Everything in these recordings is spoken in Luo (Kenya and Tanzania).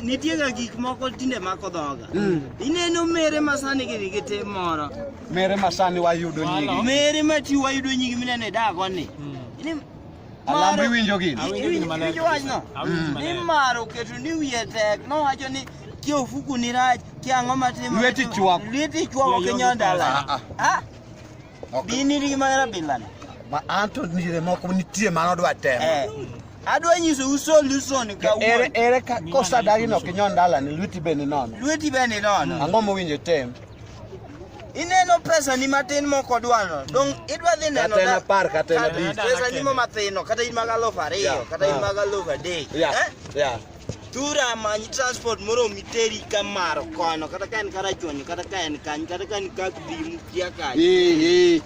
nitiega gik moko tinde mako dhoga hmm. ineno mere masani gidhi gi tim moro mere masani wayudo nyigi mere mati wayudo nyigi mineno e dagoni hmm. alambo iwinjo gini iwinjo wachno hmm. ni mar oketo ni wiye tek nowacho ni kia ofuku ni rach kia ang'o matimo lweti chwako lweti chwako kinyodala ah, ah. ah. Okay. Dini nigi magera bilani. Ma anto nire moko nitie mano odwa temo. Eh. Adwa nyiso uso luson ka ere ere ka kosa dagi no kinyo ndala ni lweti be ni nono. Lweti be ni nono. Ang'o mowinjo tem? Ineno pesa ni matin moko dwano. Dong idwa dhi neno da. Kata par kata na bi. Pesa ni mo matino kata in magalofa ariyo kata in magalofa dek. Yeah. Eh? Yeah. Tura manyi transport moro miteri ka maro kono kata ka en kara chonyo kata ka en kanyo kata ka en ka dhimu kia kanyo. Eh eh.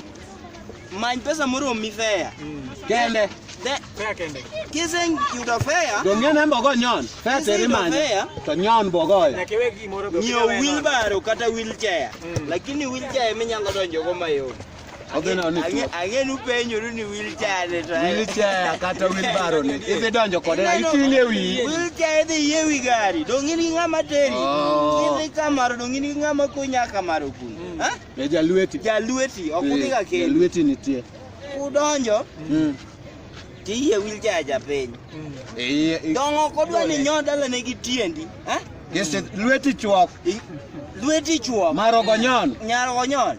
Many pesa moro mi fare. Mm. Kende. De fare kende. Kisen yudo fare. Donge ne mbogo nyon. Fare teri manyi. To nyon mbogo ya. Na kiwe gi moro go. Nyo wheelbarrow kata wheelchair. Mm. Lakini wheelchair minyalo donjo go mayot. Odhi neno ni Ang'e- Ang'e ni upenjoru ni wheelchair ni to en- wheelchair kata wheelbarrow ni idhi donjo kode na iting'e e wiyi. Wheelchair idhi yie wi gari dong in gi ng'ama teri Oh. idhi kamaro dong in gi ng'ama konya kamaro kun Ha? E jalweti. jalweti ok udhi ka kendi Jalweti nitie. udonjo Mm. tiyie wheelchair cha piny E iye. i- dong ok odwa ni nyo dalane gi tiendi Ha? Yes, lweti chuok. I- lweti chuo Marogo nyon. nyargo nyon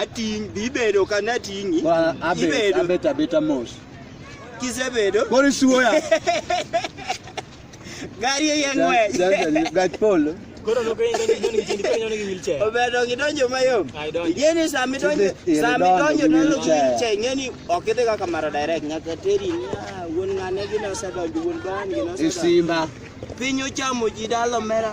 ating' bi bedo ka nating'i Bwana, abet ibedo abet abeta mos kisebedo koro isuoya gari eye ng'wech gach polo Koro no kwenye ndonyo ndonyo kichindi kwenye ndonyo ki wheelchair. obedo gidonjo mayom Ai, donjo. ing'e ni sama idonjo Idhi- idhi sama donjo idonjo gi donjo gi wheelchair. wheelchair ing'e ni ok idhi kaka mara direct nyaka teri ni "Ah, wuon ng'ane gine osedonjo wuon bani gine osedonjo isimba piny ochamo ji dalo mera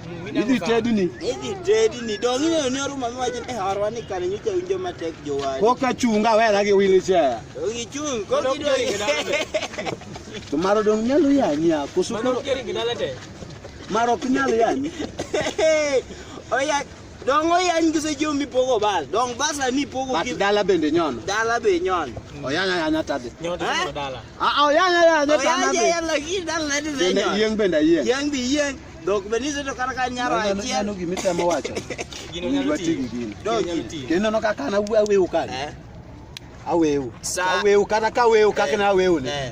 Idhi tedi ni. Idhi tedi ni. Dongi ne ne ruma mi wajin e harwa ni kare nyi ke unjo matek jo wadi. Ko ka chunga we na gi wili che. Dongi chung ko ki do. To maro dong nyalo ya ni a kusu ko. Maro kiri gidala te. Maro kinyalo ya ni. Oya dongo yan gise jo mi pogo bal. Dong basa ni pogo ki. Dala bende nyon. Dala be nyon. Oya nya nya tade. Nyon dala. Ah oya nya nya tade. Oya nya nya la ki dala de nyon. Yeng bende yeng. Yeng bi yeng. Dok be niso to kata ka nyaro Neno- achiel. neno gima itemo wacho Gino nyalo Owinjo tiyo. ati gi gino. Gino nyalo Dogi. tiyo. kendo no kaka na awewu kani Eh, awewu Sa- awewu kata ka awewu kaka na awewu ni eh,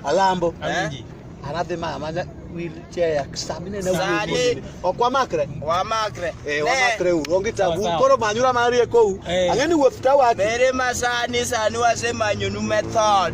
alambo Awinji. anadhi mama na wheelchair samine na Sani. awewu ok wamakre Wamakre. Eh, Ne, wamakre uru onge tabu Sawa, sawa. koro manyura mariekou Eh. ang'e ni wuoth tawacho Bere masani sani wasemanyonu method.